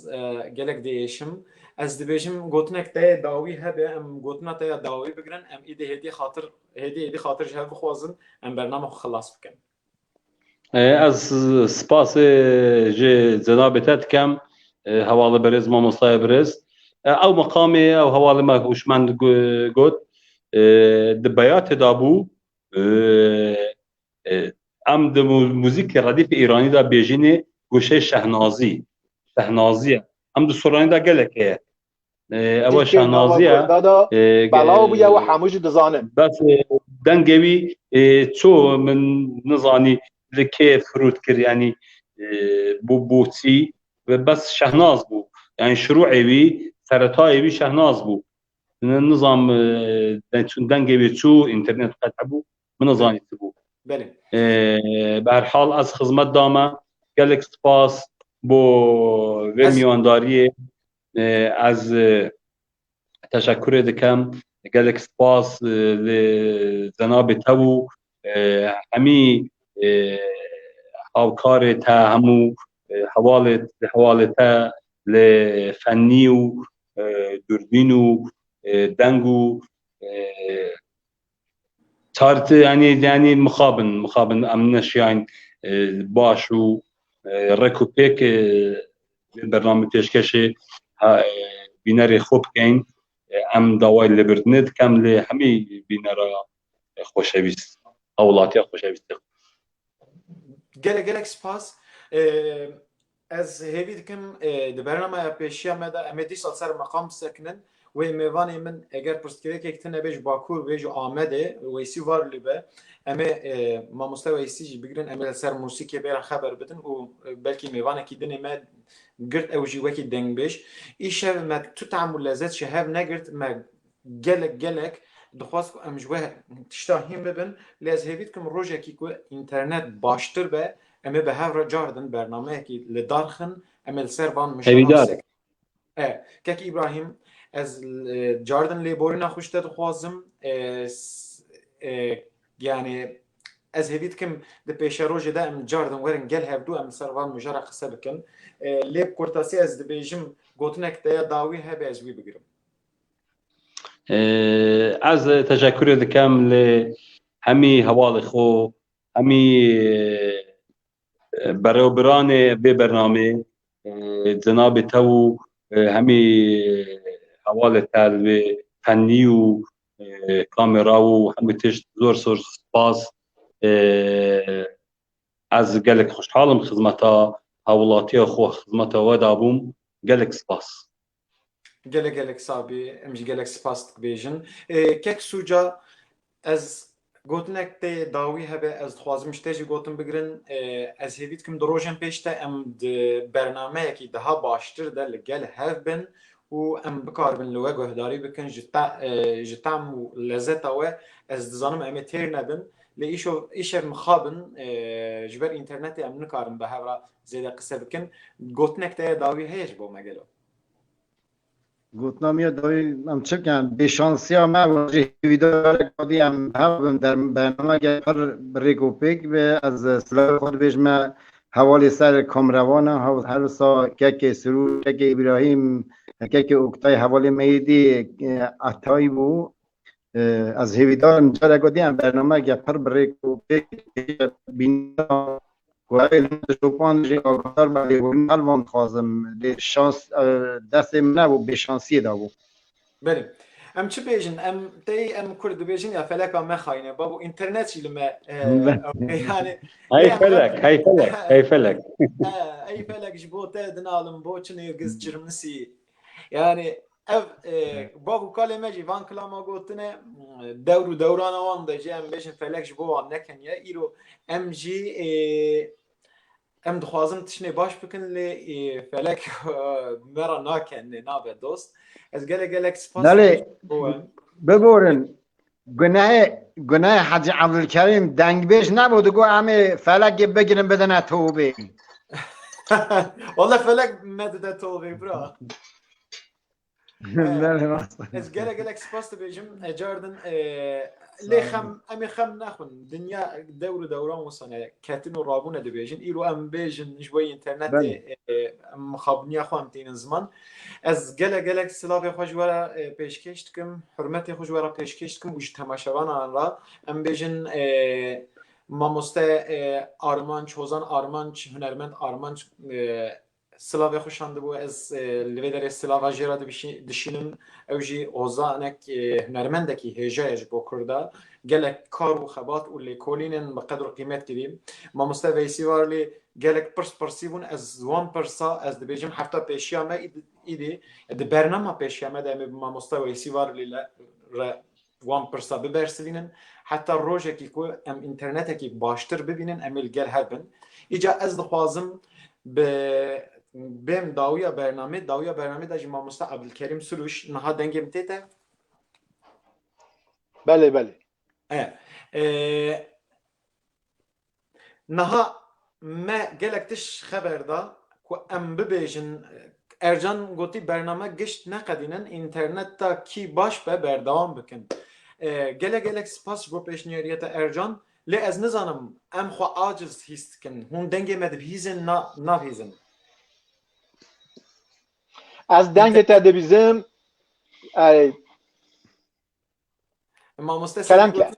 gelek diêşim ez dibêjim gotinek te dawî hebe em gotina te ya dawî bigirin em êdî hêdî xatir hêdî êdî xatir ji hev bixwazin em bername xwe xilas bikin. Ez spasê ji cenabê te dikem hevalê berêz mamostayê birêz. Ew meqamê ew hevalê me hûşmend got di beyatê de bû em di muzîkê redîfê îranî de bêjînê goşeyê şehnazî, şehnazî ye. Em di soranî de gelek heye. Ewa şanaziya belaw bûye ew hemû jî dizanin. Bes dengê wî ço min nizanî li kê firût kir yanî bû bû çî ve bes şehnaz bû. Yani şirûê wî seretayê wî şehnaz bû. Nizam çûn dengê wê çû internet qet hebû. Min nezanî ti bû. Belê. Bi her hal ez xizmet dame. Gelek spas bo vê mîyandariyê. Ez teşekurê dikim. Gelek spas li zenabê te û hemî hawkarê te hemû hevalê hevalê te li fennî û dûrbîn û deng û Tartı yani yani mıxabın mıxabın em neşiyan e, baş u e, rek u pek e, bername peşkeşi ha, e, bînerê xwe bikeyn e, em dawayê lêbirdinê dikem lê hemî bînera e, xweşewîst hewlatiya xweşewîst gelek gelek spas e, Ez hêvî dikim di bernameya pêşiya me de em ê dîsal ser meqam bisekinin. Wê mêvanê min eger pirsgirêkek tune bê ji Bakur bê ji Amedê Weysî var li be em ê mamoste Weysî jî bigirin em ê li ser mûsîkê bê re xeber bidin û belkî mêvanekî dinê me girt ew jî wekî dengbêj îşev me tu team û lezet ji hev negirt me Gelek gelek dixwest ku em ji we tişta hîn bibin lê ez hêvî dikim rojekî ku înternet baştir be em ê bi hev re car din bernameyekî li dar xin em ê li ser van mijdaran Kekî Îbrahîm ez car din lêborîna xwe ji te dixwazim yanê ez hêvî dikim di pêşerojê de em car din werin gel hevdû em ser van mijara qise bikin lê bi kurtasî ez dibêjim gotinek te ya dawî hebe ez wî bigirim Ez teşekkürê dikem li hemî hevalê xwe, hemî berewbiranê vê bernamê, cenabê te û hemî hevalê te li vê fennî û kamera û hemî tişt zor zor spas. Ez gelek xweşhal im xizmeta hewlatiya xwe, xizmeta we dabûm. Gelek spas. Gelek gelek sabî em jî gelek spas dibêjin. Kek sûca ez gotinek tê dawî hebe ez dixwazim ji te jî gotin bigirin. Ez hêvî dikim di rojên pêş de em di bernameyekî daha baştir de li gel hev bin û em bikaribin li we guhdarî bikin ji tam û lezeta we. Ez dizanim em ê têr nebin lê îşev mixabin ji ber înternetê em nikarin bi hev re zêde qise bikin. Gotinek te ya dawî heye ji bo me gelo? Gotina me ya dawî em çi bikin? Bêşansiya me wajî hêvîdarek xwedî em hev bin der bernamegeh pir bi rêk û pêk be. Ez silavê xwe dibêjim me hevalê ser kameraman e. Hev her wisa kekê Sirûr, kekê Îbrahîm, kekê Oktay hevalê me yê dî Etay bû. Ez hêvîdarim carek got em bernameyek ya pir bi rêk û pêk bîna Guhayê li min şopan jê agahtar be lê hûn mal van dixwazim lê şans destê min nebû bêşansiyê dabû. Berê. Em çi bêjin em tey em kurd dibêjin ya feleka mexayîne babo înternet jî li me yani Hey felek hey felek hey felek Hey felek ji bo te dinalim bo çi nêrgiz çirmisî Yani ev bav û kalê me jî van kilama gotine dewr û dewrana wan de jî em bêjin felek ji bo wan nekeniye îro em jî em dixwazin tiştê baş bikin lê felek me ra nakenê nabe dost ez gelek gelek spas bigorin Gunehê gunehê Hacî Evdulkerîm dengbêj nebû di got em ê felekê bigirin bidine tobê. Wala felek nedide tobê bira. Ez gele gelek spas dibêjim ecardin lê xem em ê xem nexwin dinya dewr û dewran wisane ketin û rabûne dibêjin îro em bêjin ji bo internetê mixabiniya xwe em tînin ziman Ez gelek gelek silavê xwe ji we re pêşkêş dikim, hurmetê xwe ji we re pêşkêş dikim û ji temaşevanan re em bêjin mamoste Armanc, Hozan Armanc, hunermend Armanc silavê xwe şandibû. Ez li vê derê silava jê re dişînim. Ew jî hozanek hunermendekî hêja ye ji bo Kurda. Gelek kar û xebat û lêkolînên bi qedr û qîmet kirî. Mamoste Veysî Varlî Gelek pirs pirsî bûn ez wan pirsa ez dibêjim hefta pêşiya me îdî di bernama pêşiya me de em ê bi mamosta Weysî Varlî le re wan pirsa bibersivînin heta rojekî ku em înternetekî baştir bibînin em ê li gel hev bin. Îca ez dixwazim bi bêm dawiya bernamê dawiya bernamê de jî mamosta Ebdulkerîm Suruş niha dengê min tê te? Belê belê. E, e, Niha me gelek tişt ji xeber da ku em bibêjin. Ercan gotî bername gişt neqedînin înternet ta kî baş be berdewam bikin. Gelek gelek spas ji bo pêşniyariyê te Ercan, lê ez nizanim em xwe aciz hîs dikin, hûn dengê me dibihîzin na nabihîzin. Ez dengê te dibîzim. Mamoste Kerem ke.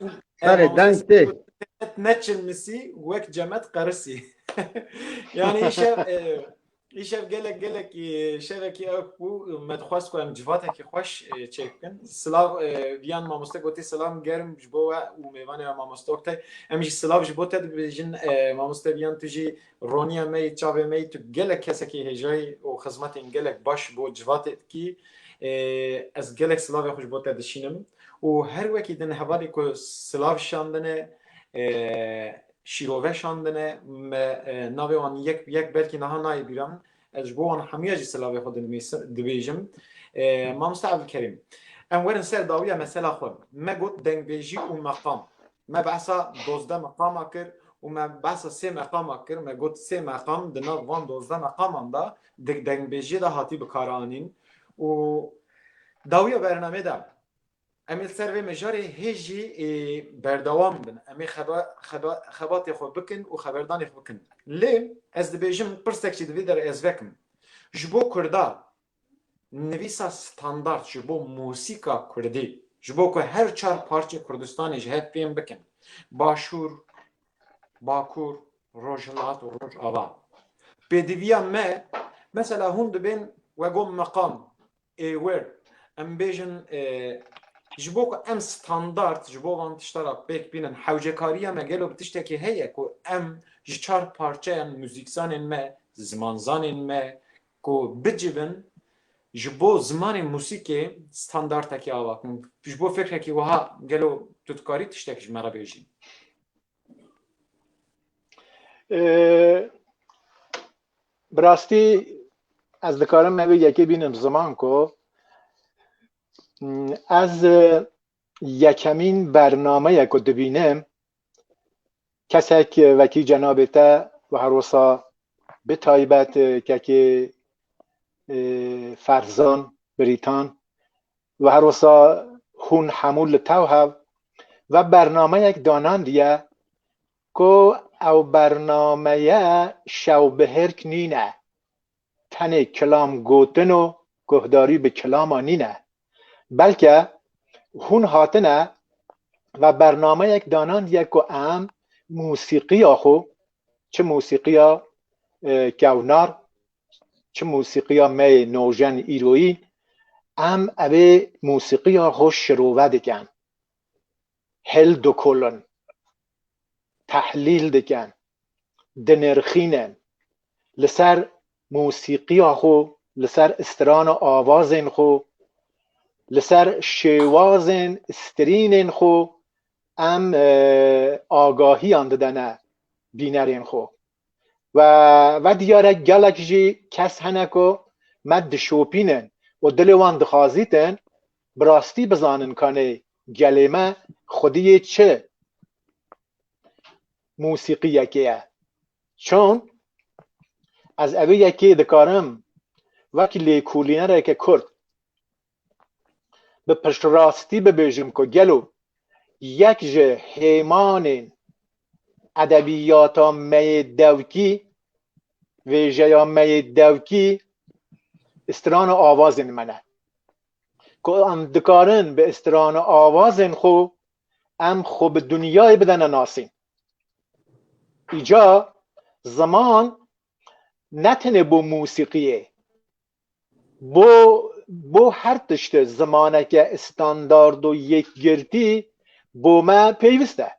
Berê deng tê. Neçin misî wek cemet qerisî. yani şev îşev gelek gelekî şevekî ew bû me dixwest ku em civatekî xweş çêk bikin. Silav viyan mamoste gotî silam germ ji bo we û mêvanê we mamoste Oktay. Em jî silav ji bo te dibêjin mamoste viyan tu jî Roniya me yê çavê me yî tu gelek kesekî hêjayî û xizmetên gelek baş bo civatê dikî. Ez gelek silavê xwe ji bo te dişînim û her wekî din hevalê ku silav şandine şîrove şandine me navê wan yek bi yek belkî niha nayê bîra min Ez ji bo wan hemûya jî silavê xwe dinivîsim, dibêjim. Mamoste Evdilkerîm, em werin ser dawiya mesela xwe. Me got dengbêjî û meqam. Me behsa dozdeh meqama kir û me behsa sê meqama kir. Me got sê meqam di nav van dozdeh meqaman de di dengbêjiyê de hatî bikaranîn û dawiya bernameyê de Em ê li ser vê mijarê hê jî berdewam bin. Em ê xebatê xwe bikin û xeberdanê xwe bikin. Lê ez dibêjim pirsek jî divê der ez vekim. Ji bo kurda nivîsa standard ji bo mûsîka kurdî ji bo ku her çar parçê Kurdistanê ji hev fêm bikin, Başûr, Bakur, Rojhilat û Rojava. Pêdiviya me, mesela hûn dibên wego meqam, Êwer, em bêjin ji bo ku em standard ji bo van tişta ra pêk bînin, hewcekariya me gelo bi tiştekê heye ku em ji çar parçeyan muzîkzanên me, zimanzanên me ku bicivin ji bo zimanê muzîkê standardekî ava bikin. Ji bo fikrekî wiha gelo tu dikarî tiştek ji me re bêjî? Bi rastî ez dikarim me vê yekê bînim ziman ku ez yekemîn bernameye ku dibînim kesek wekî cenabê te ve her wisa bi taybet kekê ferzan birîtan Ve her wisa hûn hemû li tev hev ve bernameyek danandiye ku ew bernameye şewbihêrk nîne, tenê kilam gotin û guhdarî bi kilama nîne. Belke hûn hatine ve bernameyek danandiye ku em musîqiya xwe, çi musîqiya kewnar, Çi musîqiya me yê nojen îroyî em evê musîqiya xwe şirove dikin, hil dikolin, tehlîl dikin, dinirxînin, li ser musîqiya xwe, li ser strana avazên xwe, li ser şêwazên strînên xwe em agahiyan didene bînerên xwe. Ve ve diyar e gelek jî kes hene ku me dişopînin û dilê wan dixwazîtin bi rastî bizanin kanê gelê me xwedî yê çi mûsîqîyekê ye. Çon ez evê yekê dikarim wek lêkolînereke kurd bi piştrastî bibêjim ku gelo yek ji hêmanên edebiyata me yê dewkî, vêjeya me yê dewkî strana avazên me ne. Ku em dikarin bi strana avazên xwe em xwe bi dinyayê bidene nasîn. Îca ziman ne tenê bo musîqiyê bo bo her tiştê zimaneke standard û yekgirtî bo me pêwîst e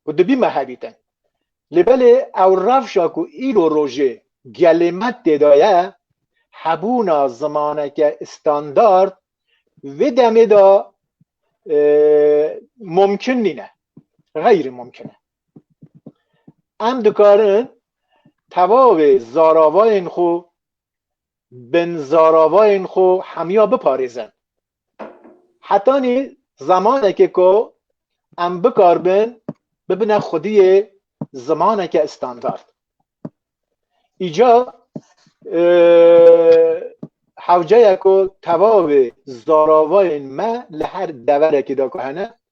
û dibî me hebîtin. Lê belê ew rewşa ku îro rojê gelê me têda ye, hebûna zimaneke standard vê demê de mumkin nîne, xeyrî mumkin e. Em dikarin tevavê zaravayên xwe, binzaravayên xwe hemiya biparêzin. Hetanî zemanekê ku em bikaribin bibine xwediyê zimaneke standard. Îca hewce ye ku tevavê zaravayên me li her deverekê de ku hene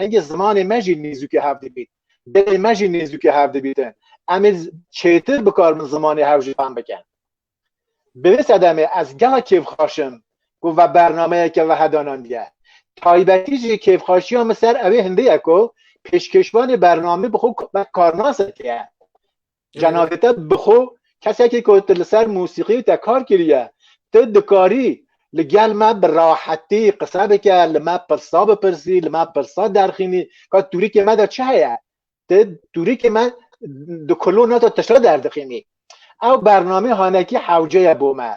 Hingê zimanê me jî nêzûkê hev dibît. Gelê me jî nêzûkê hev dibîtin. Em ê çêtir bi kar bin zimanê hev jî fehm bikin. Bi vê sedemê ez gelek kêfxaş im ku ve bernameyeke wehe danandiye. Taybetî jî kêfxaşiya min ser ewê hindê ye ku pêşkêşvanê bernamê bi xwe wek karnasek ye. Cenabê te bi xwe kesekî ku tu li ser mûsîqî te kar kiriye, tu dikarî li gel me bi rahetî qise bike, li me pirsa bipirsî, li me pirsa derxînî, ka tûrikê me de çi heye? Ti tûrikê me di kulona te tişta derdixînî. Ew bernamê hanekî hewce ye bo me.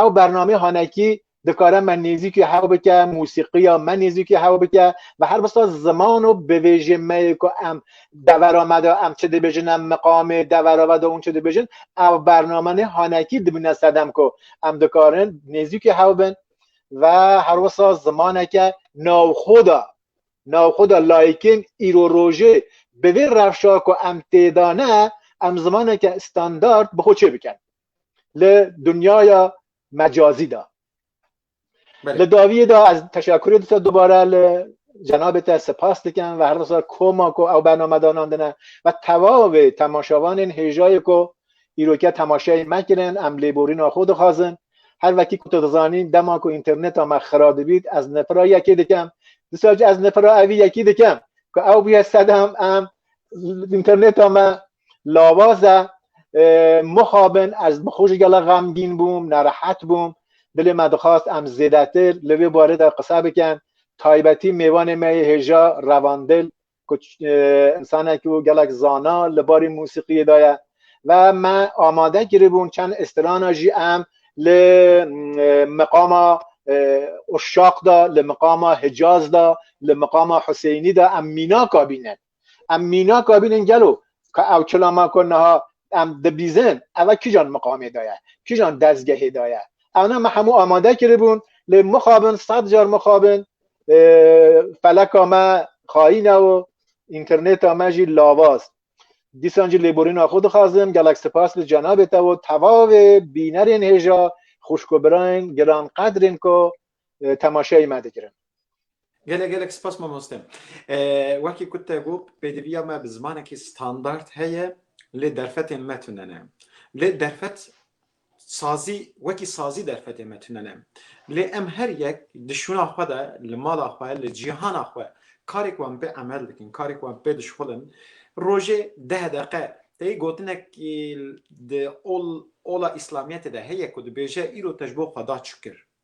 Ew bernamê hanekî dikare me nêzîkî hew bike mûsîqiya me nêzîkî hew bike ve her bista ziman û bivêjê me yê ku em devera me de em çi dibêjin em miqamê devera ve de hûn çi dibêjin ev bername nê hanekî dibîne sedem ku em dikarin nêzîkî hew bin ve her wisa zimaneke navxwe de navxwe de layîkên îro rojê bi vê rewşa ku em tê de ne em zimaneke standard bi xwe çê bikin li dunyaya mecazî da. Li daviyê de ez teşekurê dite dubare li cenabê te sipas dikim ve herdesa koma ku ew bernamedanan dine ve tevavê temaşevanên hêjayê ku îroke temaşeyê me kirin em lêborîna xwe dixwazin her vekî ku tu dizanî dema ku înterneta me xira dibît ez nifira yekê dikim disa ez nifira evî yekî dikim ku ew bûye sedem em înterneta me lawaza mixabin ez bi xwe jî gela xemgîn bûm nerehet bûm dilê me dixwast em zêdetir li vê barê de qise bikin taybetî mêvanê me yê hêja revandil ku insanek û gelek zana li barê mûsîqiyê de ye ve me amade kiribûn çend îstirana jî em li miqama uşaq de li miqama hicaz de li miqama huseynî de em mînaka bînin Em mîna kabînin gelo ka ew çilama ku niha em dibîzin eva kîjan miqamê de ye, kîjan dezgehê de ye. Ewna me hemû amade kiribûn lê mixabin sed car mixabin feleka me xayîne û înternêta me jî lavaz. Dîsan jî lêborîna xwe dixwazim gelek sipas li cenabê te û tevavê bînerên hêja xwişk û birayên giranqedrên ku temaşeyê me dikirin. Gelek gelek spas mamoste. Wekî ku te got pêdiviya me bi zimanekî standard heye lê derfetên me tune ne. Lê derfet sazî wekî sazî derfetê me tune ne. Lê em her yek di şûna xwe de li mala xwe li cîhana xwe karek wan pê emel dikin karek wan pê dişxulin rojê deh deqe tey gotinek di ol ola îslamiyetê de heye ku dibêje îro te ji bo xwe da çi kir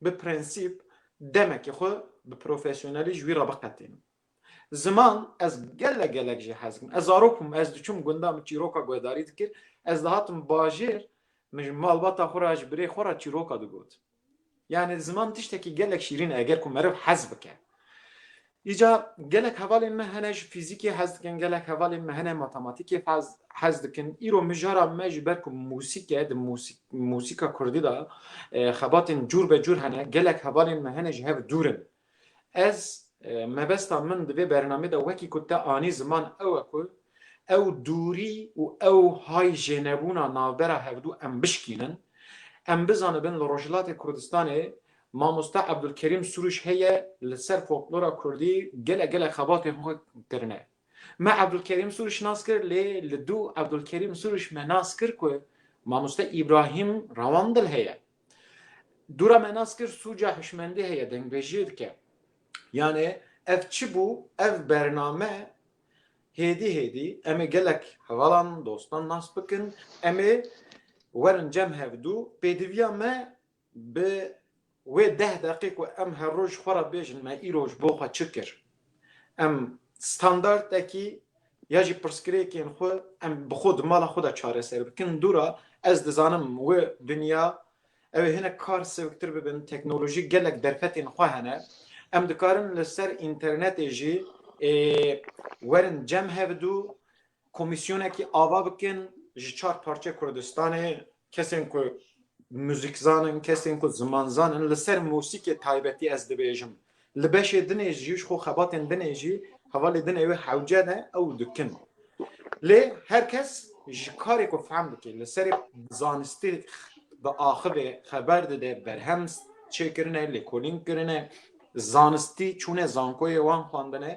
bi prensîp demekî xwe bi profesyonelî ji wî re biqetînim. Ziman ez gelek gelek jî hez dikim. Ez zarok bûm, ez diçûm gundan min çîroka guhdarî dikir, ez dihatim bajêr min ji malbata xwe re ji birê xwe re çîroka digot. Yanî ziman tiştekî gelek şîrîn e eger ku meriv hez bike. Îca gelek hevalên me hene ji fîzîkê hez dikin, gelek hevalên me hene matematîkê hez dikin. Îro mijara me ji ber ku musîk e, di musîka kurdî de xebatên cûr be cûr hene, gelek hevalên me hene ji hev dûr in. Ez mebesta min di vê bernameyê de wekî ku te anî ziman ew e ku ew dûrî û ew hay jênebûna navbera hevdû em bişkînin, em bizanibin li Rojhilatê Kurdistanê Mamoste Ebdulkerîm Sûrûş heye li ser folklora kurdî gelek gelek xebatên xwe kirine. Me Ebdulkerîm Sûrûş nas kir lê li dû Ebdulkerîm Sûrûş me nas kir ku Mamoste Îbrahîm Rawandil heye. Dûra me nas kir sûca hişmendî heye dengbêjiyê dike. Yanê ev çi bû ev bername hêdî hêdî em ê gelek hevalan dostan nas bikin em ê werin cem hev dû pêdiviya me Bi wê deh deqê ku em her roj xwe re bêjin me îro ji bo xwe çi kir, em standardekî ya jî pirsgirêkên xwe em bi xwe di mala xwe de çareser bikin dûra ez dizanim wê dinya ew ê hinek kar sewiktir bibin teknolojî gelek derfetên xwe hene em dikarin li ser înternetê jî ê werin cem hevdu Komîsyonekî ava bikin ji çar parçeyê Kurdistanê kesên ku muzîkzan in, kesên ku zimanzan in li ser musîkê taybetî ez dibêjim li beşê din ê jî ji xwe xebatên din ê jî hevalê din ê wê hewce ne ew dikin. Lê her kes ji karê ku fehm dike li serê zanistî diaxivê, xeber dide, berhem çêkirine, lêkolîn kirine, Zanistî çûne zankoyê wan xwendine.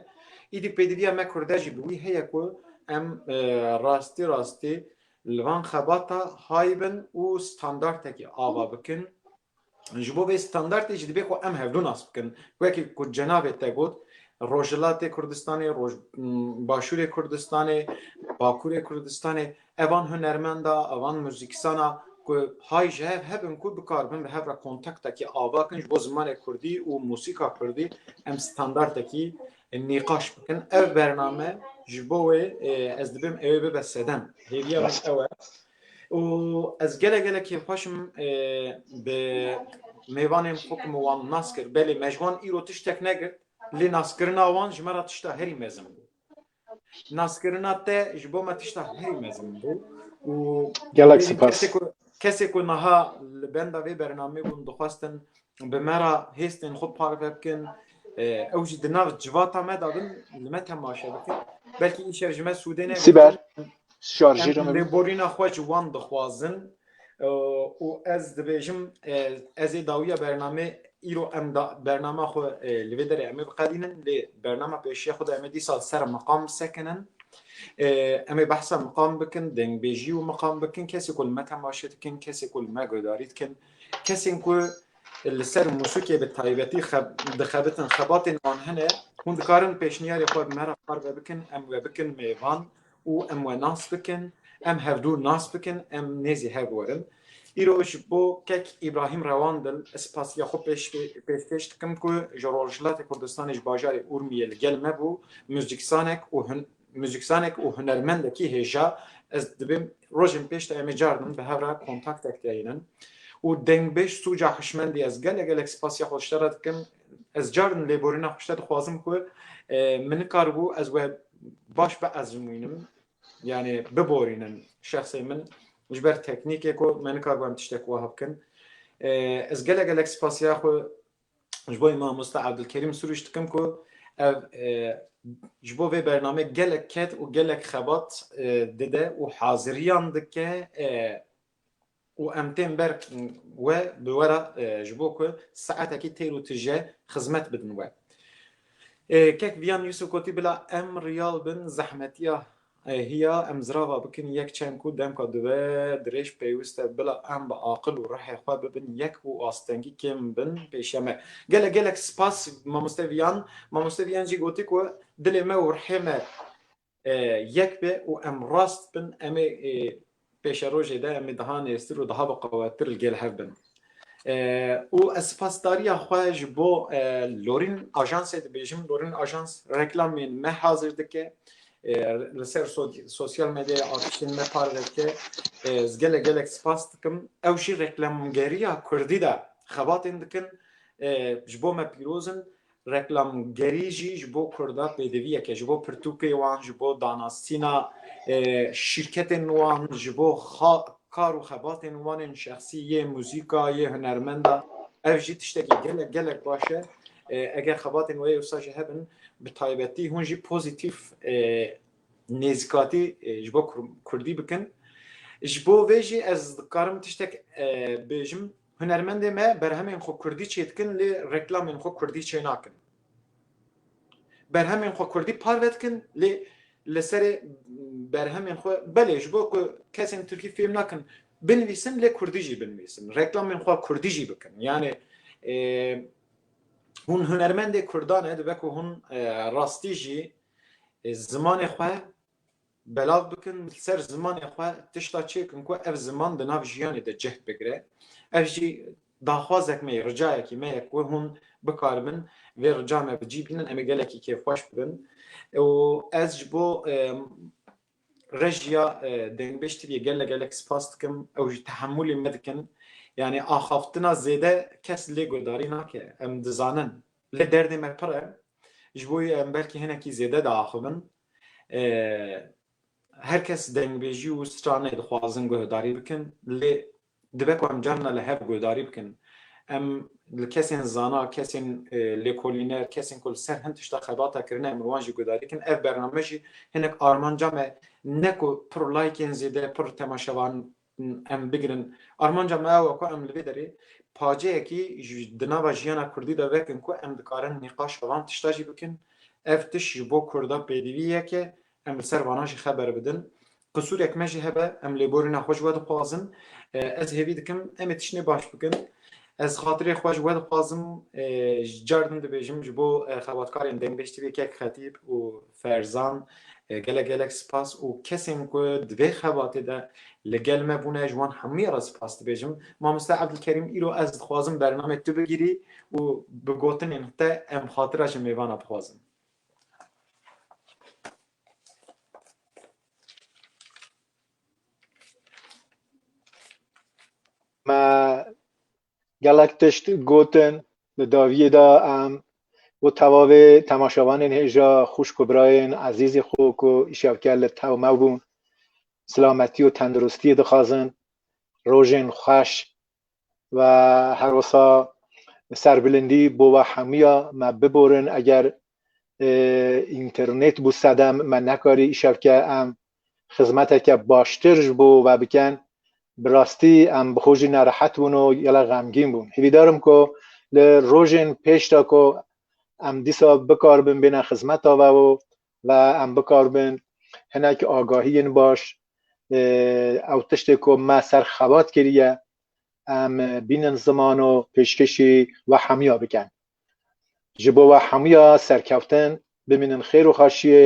Îdî pêdiviya me kurde jî bi wî heye ku em rastî rastî li van xebata hay bin û standartekî ava bikin. Ji bo vê standartê jî dibê ku em hevdu nas bikin. Wekî ku cenabê te got Rojhilatê Kurdistanê, Roj Başûrê Kurdistanê, Bakurê Kurdistanê Evan hunermenda, evan muzîksana ku hay ji hev hebin ku bikar bin bi hev re kontaktekî ava kin ji bo zimanê kurdî û muzîka kurdî em standartekî nîqaş bikin. Ev bername ji bo wê ez dibim ewê bibe sedem. Hêviya min ew e. û ez gele gele kêfxweş im bi mêvanên xwe ku min wan nas kir. Belê me ji wan îro tiştek negirt lê naskirina wan ji me re tişta herî mezin bû. Naskirina te ji bo me tişta herî mezin bû û gelek sipas. Kesê ku niha li benda vê bernamê bûn dixwestin bi me ra hêstên xwe parve bikin ew jî di nav civata me da bin li me temaşe bikin belkî îşev ji me sûdê ne sîber şarjî borîna xwe ji wan dixwazin û ez dibêjim ez ê dawiya bernamê îro em da bernama xwe li vê derê em ê biqedînin lê bernama pêşiya xwe de em ê dîsa ser miqam sekinin em ê behsa miqam bikin dengbêjî û miqam bikin kesê ku li me temaşe dikin kesê ku li me guhdarî dikin kesên ku li ser musûkê bi taybetî dixebitin xebatên wan hene hûn dikarin pêşniyarê xwe me re parve bikin em we bikin mêvan û em we nas bikin, em hevdû nas bikin, em nêzî hev werin. Îro ji bo kek Îbrahîm Rewandil ez spasiya xwe pêşkêş dikim ku ji Rojhilatê Kurdistanê ji bajarê Urmiyê li gel me bû, muzîkzanek û muzîkzanek û hunermendekî hêja, ez dibêm rojên pêş de em ê carî din bi hev re kontaktek de hînin û dengbêj Sûca Hişmendî ez gelek gelek spasiya xwe ji te re dikim Ez carin lêborîna xwe ji te dixwazim ku min nikaribû ez we baş biezmûnim yanê biborînim şexsê min ji ber teknîkê ku me nikaribû em tiştek wiha bikin. Ez gelek gelek spasiya xwe ji bo mamosta Abdulkerîm Sûrûj dikim ku ev ji bo vê bername gelek ket û gelek xebat dide û haziriyan dike û em tên ber we bi we re ji bo ku saetekî têr û tije xizmet bidin we. Kek Viyan Yusuf gotî bila em riyal bin zehmetiya hiya em zirava bikin yek çend ku demka dibe dirêj pêwist e bila em bi aqil û rihê xwe bibin yek û astengî kêm bin pêşiya me. Gelek gelek spas mamoste Viyan. Mamoste Viyan jî gotî ku dilê me û rihê me yek be û em rast bin em ê pêşerojê de em ê daha nêztir û daha biqewettir li gel hev bin. Û ez sipasdariya xwe ji bo Lorîn Ajansê dibêjim, Lorîn Ajans reklamên me hazir dike, li ser sosyal medyaya artistên me parve dike, ez gelek gelek sipas dikim. Ew jî reklamgeriya kurdî de xebatên dikin, ji bo me pîroz in. Reklamgerî jî ji bo Kurda pêdiviyek e, ji bo pirtûkê wan, ji bo danasîna şîrketên wan, ji bo kar û xebatên wan ên şexsî, yê muzîka, yê hunermenda. Ev jî tiştekî gelek gelek baş e. Eger xebatên wê wisa jî hebin, bi taybetî hûn jî pozîtîf nêzîkatî ji bo Kurdî bikin. Ji bo vê jî ez dikarim tiştek bijim. Hunermendê me berhemên xwe kurdî çêdikin lê reklamên xwe kurdî çênakin. Berhemên xwe kurdî parve dikin lê li serê berhemên xwe belê ji bo ku kesên tirkî fêm nakin binivîsin lê kurdî jî binivîsin. Reklamên xwe kurdî jî bikin. Yanê hûn hunermendê kurdan e dibe ku hûn rastî jî zimanê xwe Belav bikin li ser zimanê xwe tişta çêkin ku ev ziman di nav jiyanê de cih bigire. Ev jî daxwazek me ye, ricayekî me ye ku hûn bikaribin vê rica me bi cî bînin. Em ê gelekî kêfxweş bibin û ez ji bo rejiya Dengbêj TV'ê gelek gelek spas dikim. Ew ji tehemûlê me dikin. Yanî axaftina zêde kes lê guhdarî nake. Em dizanin lê derdê me pir e. Ji bo wî em belkî hinekî zêde diaxivin. Her kes dengbêjî û stranê dixwazin guhdarî bikin lê dibe ku em carina li hev guhdarî bikin. Em li kesên zana, kesên lêkolîner, kesên ku li ser hin tişta xebata kirine em li wan jî guhdarî bikin. Ev bername jî hinek armanca me ne ku pir laykên zêde, pir temaşevan em bigirin. Armanca me ew e ku em li vê derê paceyekî di nava jiyana kurdî de vekin ku em dikarin nîqaşa van tişta jî bikin. Ev tişt ji bo kurda pêdivî yek e, em li ser vanan jî xeber bidin. Qisûrek me jî hebe, em lêborîna xwe ji we dixwazin. Ez hêvî dikim em ê tiştnê baş bikin. Ez xatirê xwe ji we dixwazim. Ji car din dibêjim ji bo xebatkarên Dengbêj Tivê Kek Xetîb û Ferzan, Gelek gelek spas û kesên ku di vê xebatê de li gel me bûne ji wan hemûyan re spas dibêjim. Mamoste Evdilkerîm îro ez dixwazim bernamê tu bigirî û bi gotinên te em xatira ji mêvana bixwazin. Me Gelek tişt gotin di daviyê de em û tevavê temaşevanên hêja xwişk û birayên ezîzê xwe ku îşewker li tewmew bûn silametî û tendirustiyê dixwazin, rojên xweş û her wisa serbilindî bo we hemûya me biborin eger înternêt bû sedem me nekarî îşewke em xizmeteke baştir ji bo we bikin, bi rastî em bi xwe jî nerehet bûn û gelek xemgîn bûn. Hîvîdar im ku li rojên pêş de ku em dîsa bikaribin bêne xizmeta we û ve em bikaribin hinek agahiyên baş ew tiştê ku me ser xebat kiriye em bînin ziman û pêşkêşî we hemûya bikin. Ji bo we hemûya serkeftin, bimînin xêr û xaşiyê